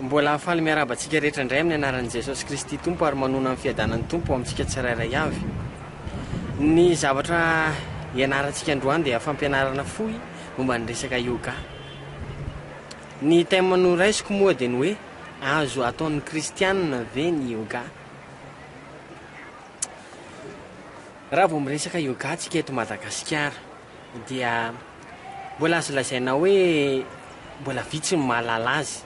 Mbola faly miarahaba antsika rehetra indray amin'ny anaran'i Jesosy Kristy Tompo ary manona amin'ny fiadanan'ny Tompo amintsika tsirairay avy. Ny zavatra ianarantsika androany dia fampianarana fohy momba ny resaka yoga. Ny thème noraisiko moa dia ny hoe azo ataon'ny kristianina ve ny yoga? Raha vao miresaka yoga tsika eto Madagasikara dia mbola azo lazaina hoe mbola vitsy ny mahalala azy,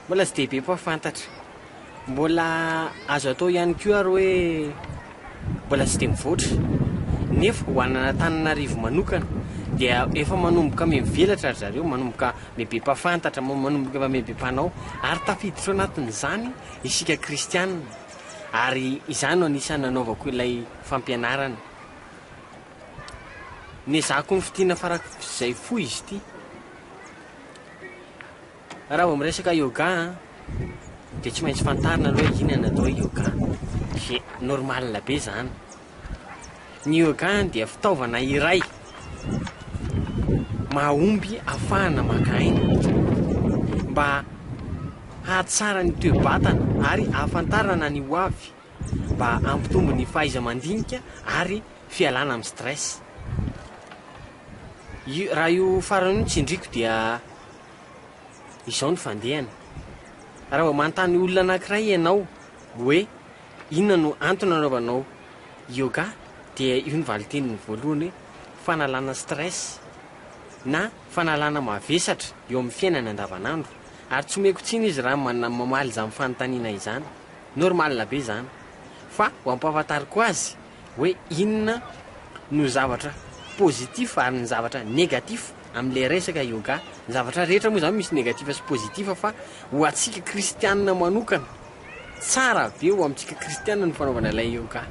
mbola tsy dia be mpahafantatra. Mbola azo atao ihany koa ary hoe mbola tsy dia mivoatra. Nefa ho an'Antananarivo manokana dia efa manomboka mivelatra ry zareo, manomboka mibe mpafantatra, manomboka mibe mpanao ary tafiditra ao anatin'izany isika kristianina ary izany no anisan'ny nanaovako ilay fampianarana. Nezahako nofintinina farak'izay fohy izy ity. Raha vao miresaka yoga an, dia tsy maintsy fantarina aloha hoe inona ny atao hoe yoga. Dia normal be izany. Ny yoga dia fitaovana iray mahomby afahana maka aina mba hahatsara ny toe-batana ary ahafantarana ny ho avy mba hampitombo ny fahaiza-mandinika ary fialana amin'ny stress. Raha io farany io no tsindriako dia izao ny fandehany. Raha vao manontany olona anankiray ianao hoe inona no antony anaovanao yoga dia io ny valin-teniny voalohany hoe fanalana stress na fanalana mavesatra eo amin'ny fiainany andavanandro. Ary tsy omeko tsiny izy raha mamaly izany fanontaniana izany. Normal be izany. Fa ho ampahafantariko azy hoe inona no zavatra positif ary ny zavatra negatif amin'ilay resaka yoga. Ny zavatra rehetra moa zany misy negatif sy positif fa ho antsika kristianina manokana, tsara be ho amintsika kristianina ny fanaovana ilay yoga.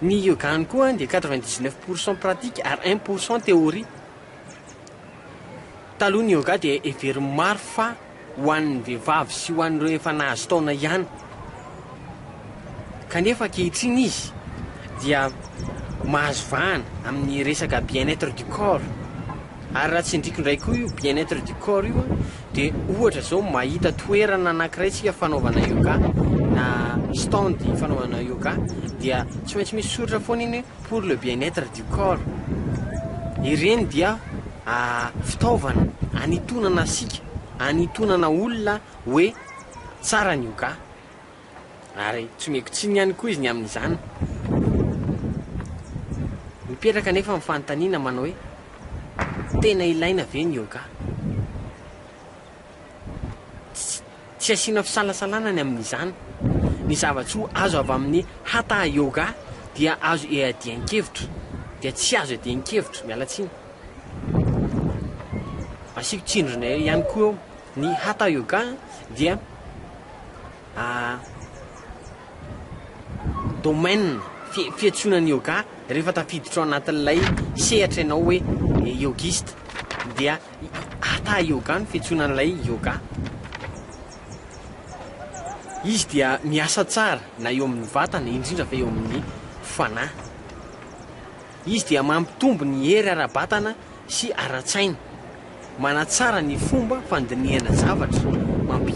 Ny yoga any koa dia quatre vingt dix neuf pour cent pratique ary un pour cent théorie. Taloha ny yoga dia heverin'ny maro fa ho an'ny vehivavy sy ho an'ireo efa nahazo taona ihany, kanefa ankehitriny izy dia mahazo vahana amin'ny resaka bien-être du corps, ary raha tsindriko indray koa io bien-être du corps io an, dia ohatra izao mahita toerana anankiray tsika fanaovana yoga na stand fanaovana yoga dia tsy maintsy misy soritra foana iny hoe. pour le bien être du corps ireny dia fitaovana anitonana asika anitonana olona hoe tsara ny yoga ary tsy omeko tsiny ihany koa izy ny amin'izany mipetraka nefa ny fanontaniana manao hoe tena ilaina ve ny yoga Tsy asiana fisalasalana ny amin'izany. Ny zava-tsoa azo avy amin'ny Hatha Yoga dia azo iadian-kevitra, dia tsy azo iadian-kevitra, miala tsiny. Asiako tsindrona ihany koa eo, ny Hatha Yoga dia domaine, fiantsoana ny Yoga rehefa tafiditra ao anatin'ilay sehatra ianao hoe yogiste dia Hatha Yoga no fiantsoana an'ilay yoga. Izy dia miasa tsara na eo amin'ny vatana, indrindra fa eo amin'ny fanahy. Izy dia mampitombo ny hery ara-batana sy ara-tsaina, manatsara ny fomba fandinihana zavatra, mampi,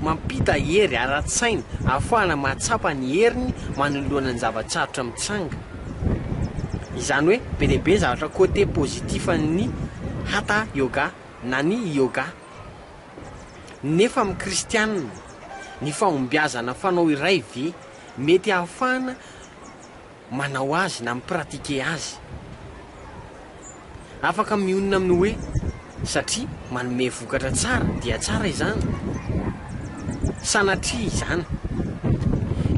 mampita hery ara-tsaina ahafahana mahatsapa ny heriny manoloana ny zava-tsarotra mitsanga. Izany hoe be dia be ny zavatra côté positif an'ny Hatha Yoga na ny Yoga. Nefa amin'ny Kristianina, ny fahombiazana fanao iray ve mety ahafahana manao azy na mi-pratiquer azy? Afaka mionona amin'ny hoe satria manome vokatra tsara dia tsara izany? Sanatria izany.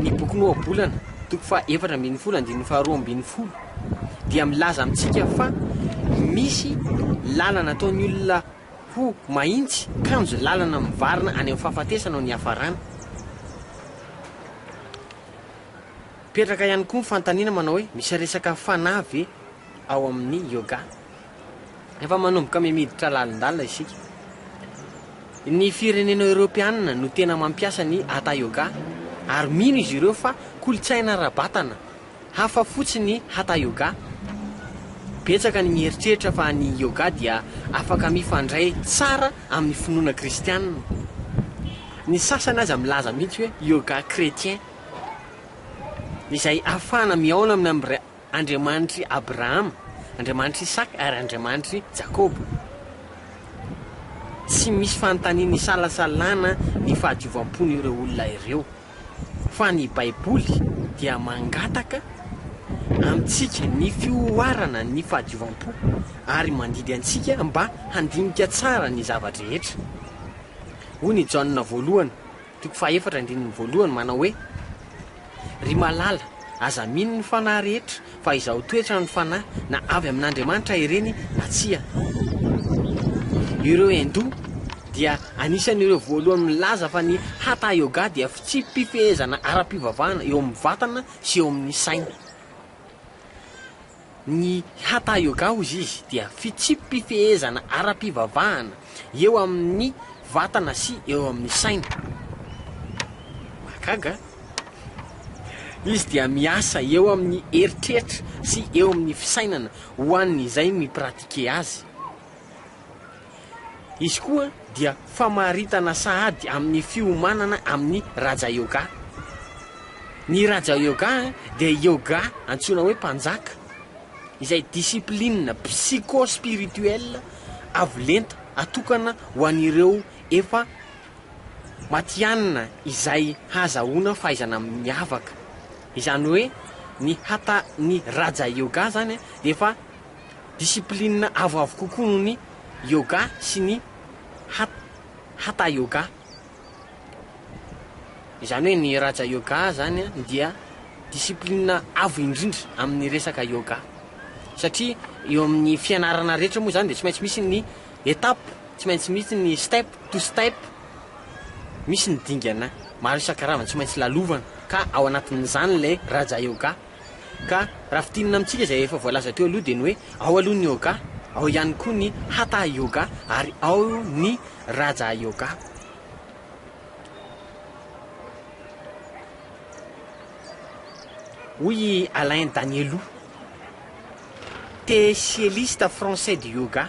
Ny bokin'ny Ohabolana, toko faha efatra ambin'ny folo, andininy faha roa ambin'ny folo, dia milaza amintsika fa misy lalana ataon'ny olona ho mahitsy, kanjo lalana mivarina any amin'ny fahafatesana no niafarany. Mipetraka ihany koa ny fanontaniana manao hoe misy resaka fanahy ve ao amin'ny yoga. Efa manomboka miditra lalindalina isika. Ny firenena eoropeanina no tena mampiasa ny hatha yoga ary mino izy ireo fa kolontsaina ara-batana hafa fotsiny hatha yoga. Betsaka ny mieritreritra fa ny yoga dia afaka mifandray tsara amin'ny finoana kristiana. Ny sasany aza milaza mihitsy hoe yoga chrétien, izay afahana mihaona amin'ny Andriamanitr'i Abrahama, Andriamanitr'i Isaka ary Andriamanitr'i Jakoba. Tsy misy fanontaniana isalasalana ny fahadiovam-pon'ireo olona ireo. Fa ny Baiboly dia mangataka amintsika ny fihoarana ny fahadiovam-po ary mandidy antsika mba handinika tsara ny zava-drehetra. Hoy ny Jaona Voalohany. Toko fahefatra andininy voalohany manao hoe, Ry malala, aza mino ny fanahy rehetra, fa izaho toetra ny fanahy, na avy amin'Andriamanitra ireny na tsia. Ireo Hindoa dia anisan'ireo voalohany milaza fa ny Hatha Yoga dia fitsipi-pifehezana ara-pivavahana eo amin'ny vatana sy eo amin'ny saina. Ny Hatha Yoga hozy izy dia fitsipi-pifehezana ara-pivavahana eo amin' ny vatana sy eo amin' ny saina. Mahagaga a! Izy dia miasa eo amin' ny eritreritra sy eo amin' ny fisainana ho an' izay mi-pratiquer azy. Izy koa dia famaritana sahady amin'ny fiomanana amin'ny Raja Yoga. Ny Raja Yoga dia yoga antsoina hoe mpanjaka, izay discipline psycho-spirituelle avo lenta atokana ho an'ireo efa matihanina izay hahazahoana fahaizana miavaka. Izany hoe ny hatha ny Raja Yoga izany dia efa discipline avoavo kokoa noho ny Yoga sy ny Hatha Yoga. Izany hoe ny Raja Yoga izany dia discipline avo indrindra amin'ny resaka Yoga. Satria eo amin'ny fianarana rehetra moa izany dia tsy maintsy misy ny étape, tsy maintsy misy ny step to step, misy ny dingana maro isan-karazany tsy maintsy lalovana ka ao anatin'izany ilay Raja Yoga. Ka raha fintinina amintsika izay efa voalaza teo aloha dia ny hoe ao aloha ny Yoga, ao ihany koa ny Hatha Yoga ary ao ny Raja Yoga. Hoy i Alain Danielou, techieliste français du yoga,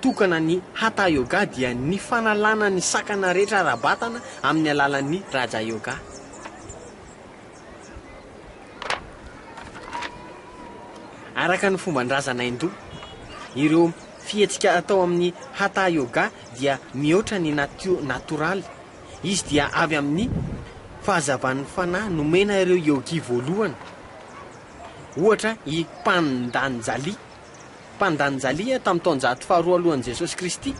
tokana ny Hatha Yoga dia ny fanalana ny sakana rehetra ara-batana amin'ny alalan'ny Raja Yoga. Araka ny fomban-drazana hindoa, ireo fihetsika atao amin'ny Hatha Yoga dia mihoatra ny natio natoraly. Izy dia avy amin'ny fahazavan'ny fanahy nomena ireo yogi voalohany, ohatra i Pandanjali. Mpandanjalia tamin'ny taonjato faharoa alohan'i Jesosy Kristy,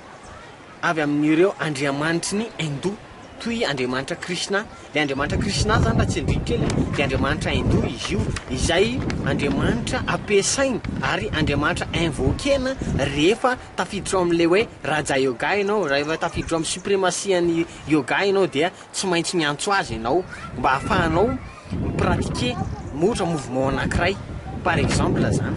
avy amin'ireo andriamanitry ny Hindou, toy i Andriamanitra Krishna. Ilay Andriamanitra Krishna izany, raha tsindriako kely a, dia andriamanitra Hindou izy io, izay andriamanitra ampiasaina ary andriamanitra invoquer-na rehefa tafiditra ao amin'ilay hoe Raja Yoga ianao, raha efa tafiditra ao amin'ny supremacy-an'ny Yoga ianao dia Tsy maintsy miantso azy ianao mba ahafahanao mi-pratiquer na ohatra mouvement anankiray par exemple zany.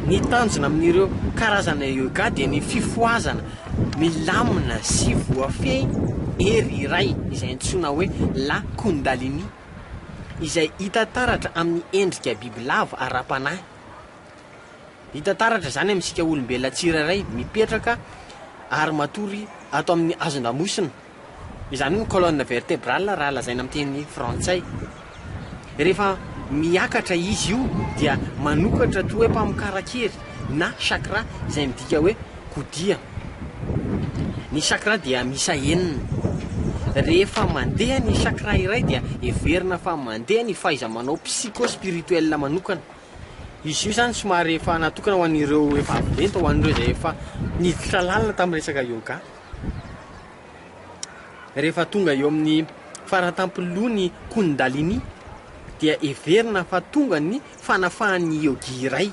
Ny tanjona amin'ireo karazana yoga dia ny fifohazana milamina sy voafehy hery iray izay antsoina hoe la kundalini izay hita taratra amin'ny endrika bibilava ara-panahy. Hita taratra izany amintsika olombelona tsirairay mipetraka ary matory ato amin'ny hazon-damosina. Izany hoe ny colonne vertebrale raha lazaina amin'ny teny frantsay. Rehefa miakatra izy io dia manokatra toa hoe mpamokaran-kery na chakra izay midika hoe kodia. Ny chakra dia miisa enina. Rehefa mandeha ny chakra iray dia heverina fa mandeha ny fahaiza-manao psycho-spirituel manokana. Izy io zany somary efa natokana ho an'ireo efa avy lenta, ho an'ireo izay efa niditra lalina tamin'ny resaka yoga. Rehefa tonga eo amin'ny faratampilohan'ny Kundalini dia heverina fa tonga ny fanafahan'ny yogi iray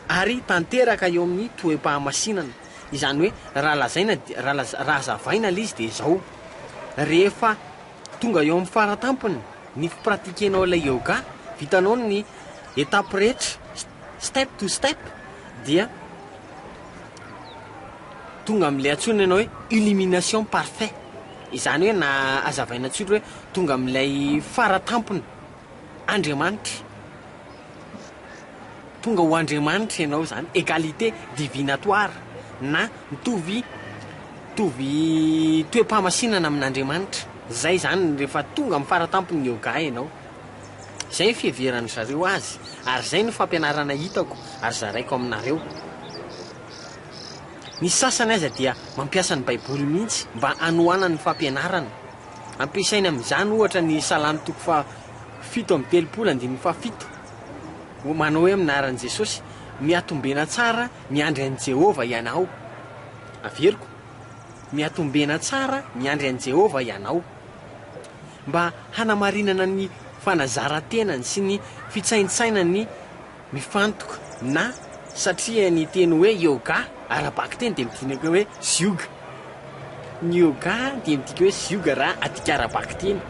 ary tanteraka eo amin'ny toe-pahamasinana. Izany hoe raha lazaina raha laza- raha azavaina ilay izy dia izao, rehefa tonga eo amin'ny faratampony ny fipratiquer-nao ilay yoga, vitanao ny étapes rehetra step to step dia tonga amin'ilay antsoina ianao hoe illumination parfait, izany hoe na azavaina tsotry hoe tonga amin'ilay faratampony. Andriamanitra. Tonga ho Andriamanitra ianao izany, égalité divinatoire na mitovy mitovy toe-pamasinana amin'Andriamanitra. Izay izany rehefa tonga amin'ny faratampon'ny yoga ianao. Izay ny fiheveran-dry zareo azy ary izay no fampianarana hitako ary zaraiko aminareo. Ny sasany aza dia mampiasa ny Baiboly mihitsy mba hanohanany ny fampianarana. Ampiasaina amin'izany ohatra ny Salamo toko faha fito amby telopolo andininy faha fito. Manao hoe amin'ny anaran'i Jesosy, Mihatombena tsara miandry an'i Jehovah ianao. Averiko, Mihatombena tsara miandry an'i Jehovah ianao. Mba hanamarinana ny fanazaran-tenany sy ny fitsaintsainany Mifantoka na satria ny teny hoe yoga ara-bakiteny dia midinaka hoe zioga. Ny yoga dia midika hoe zioga raha adika ara-bakiteny.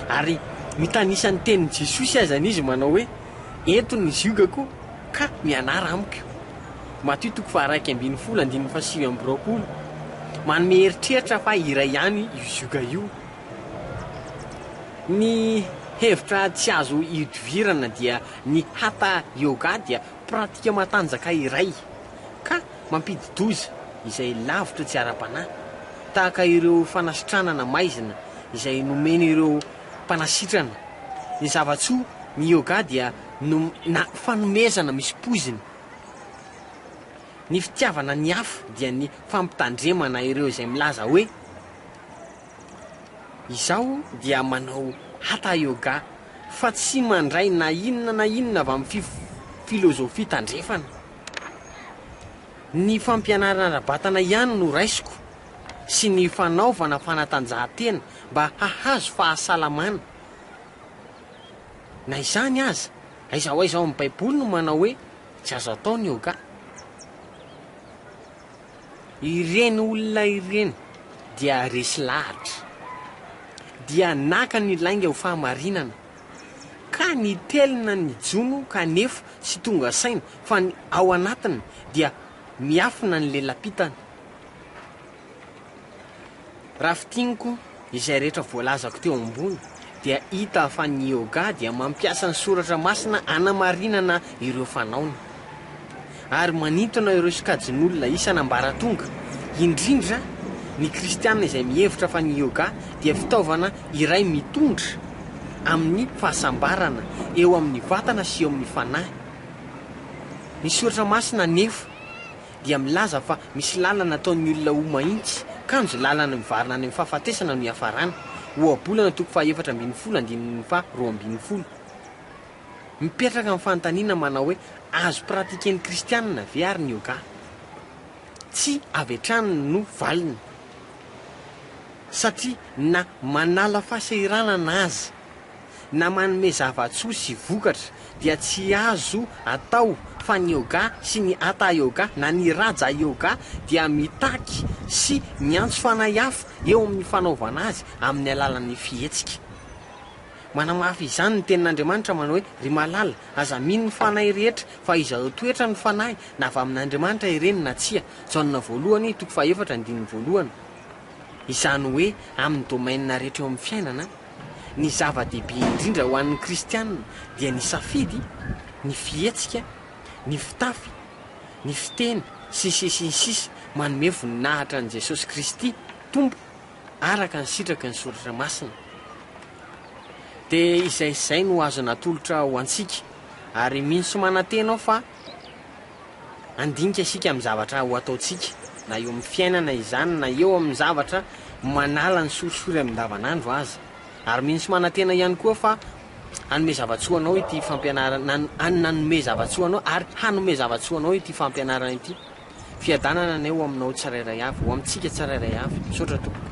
Ary mitanisa ny tenin'i Jesosy azany izy manao hoe, Ento ny ziogako ka mianara amiko. Matio toko faharaika ambin'ny folo andininy fahasivy amby roapolo. Manome eritreritra fa iray ihany io zioga io. Ny hevitra tsy azo ihodivirana dia. Ny Hatha Yoga dia pratika matanjaka iray, ka mampidi-doza izay lavitra tsy ara-panahy, tahaka ireo fanasitranana maizina izay nomen'ireo mpanasitrana. Ny zava-tsoa, ny yoga dia nom na fanomezana misy poizina. Ny fitiavana ny hafa dia ny fampitandremana ireo izay milaza hoe. Izaho dia manao Hatha Yoga fa tsy mandray na inona na inona avy amin'ny filozofia tandrefana. Ny fampianarana ara-batana ihany no raisiko sy ny fanaovana fanatanjahantena mba hahazo fahasalamana. Na izany aza, aiza ho aiza ao amin'ny Baiboly no manao hoe tsy azo atao ny yoga? Ireny olona ireny dia resy lahatra. Dia naka ny lainga ho fahamarinana, ka nitelina ny jono kanefa tsy tonga saina fa ny ao anatiny dia miafina ny lela-pitany. Raha fintiniko izay rehetra voalazako teo ambony dia hita fa ny Yoga dia mampiasa ny soratra masina hanamarinana ireo fanaony ary manintona ireo sokajin'olona isan'ambaratonga, indrindra ny kristiana izay mihevitra fa ny Yoga dia fitaovana iray mitondra amin'ny fahasambarana eo amin'ny vatana sy eo amin'ny fanahy. Ny soratra masina anefa dia milaza fa misy lalana ataon'ny olona ho mahitsy, kanjo lalana mivarina any amin'ny fahafatesana no iafarany, Ohabolana toko faha efatra ambin'ny folo andininy faha roa ambin'ny folo. Mipetraka ny fanontaniana manao hoe, azo pratiquer-n'ny kristianina ve ary ny yoga? Tsy avy hatrany no valiny, satria na manala fahasahiranana aza, na manome zava-tsoa sy vokatra dia tsy azo atao fa ny yoga sy ny hatha yoga na ny raja yoga dia mitaky sy miantso fanahy hafa eo amin'ny fanaovana azy amin'ny alalan'ny fihetsika. Manamafy izany ny tenin'Andriamanitra manao hoe, Ry malala, aza mino ny fanahy rehetra fa izao toetra ny fanahy na avy amin'Andriamanitra ireny na tsia, Jaona voalohany toko fahefatra andininy voalohany, izany hoe amin'ny domaine rehetra eo amin'ny fiainana. Ny zava-dehibe indrindra ho an'ny Kristianina dia ny safidy, ny fihetsika, ny fitafy, ny fiteny, sy ny sisa sy ny sisa Manome voninahitra an'i Jesosy Kristy Tompo araka ny sitraky ny Soratra Masina dia izay izay no azo natolotra ho antsika ary mino sy manantena aho fa Handinika isika amin'ny zavatra ho ataontsika, na eo amin'ny fiainana izany na eo amin'ny zavatra manala ny sorisory amin-davanandro aza. Ary mino sy manantena ihany koa fa hanome zava-tsoa anao ity fampianarana, na nanome zava-tsoa anao ary hanome zava-tsoa anao ity fampianarana ity. Fiadanana anie ho aminao tsirairay avy, ho amintsika tsirairay avy. Misaotra tompoko.